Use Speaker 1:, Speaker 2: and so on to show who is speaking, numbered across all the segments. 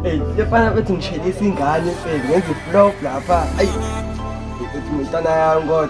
Speaker 1: Ey, lefana bethi ngishelisa ingane mfethu ngenza iflop lapha. Ayi. Uthi umntana yami kodwa.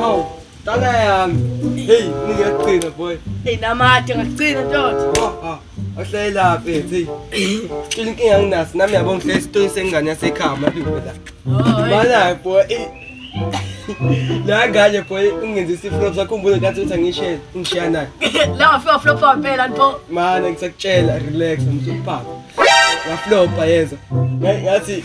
Speaker 1: Hawu, dala yami. Hey, ningaqina boy. Hey namade ngaqina
Speaker 2: ntothi. Oh, oh. Ohlale lapha
Speaker 1: ethi. Cela inkinga anginaso nami yabo ngihlale isitoyi sengane yasekhaya madume la. Oh, Bala boy. La ngane boy ungenza isiflop sakhumbule kathi uthi angishiye ngishiya naye. La ngafika flop
Speaker 2: wampela nto. Mana ngisakutshela
Speaker 1: relax msupapa. Ngaflopa yenza. Ngathi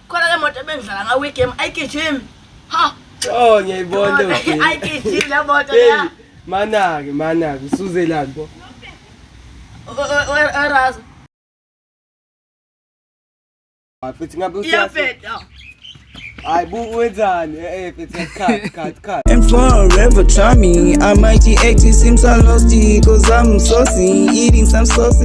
Speaker 2: khona ke moto
Speaker 1: ebengidlala ngawo igame ayigijimi ha oh
Speaker 2: ngiyayibona ayigijimi le moto
Speaker 1: ya manake manake usuzelani bo
Speaker 2: erazo
Speaker 1: futhi ngabe usiyafeta I boot with on. If it's a cut, cut, cut. And forever
Speaker 3: try me. I might eat seems I lost it. Cause I'm saucy. Eating some sausage.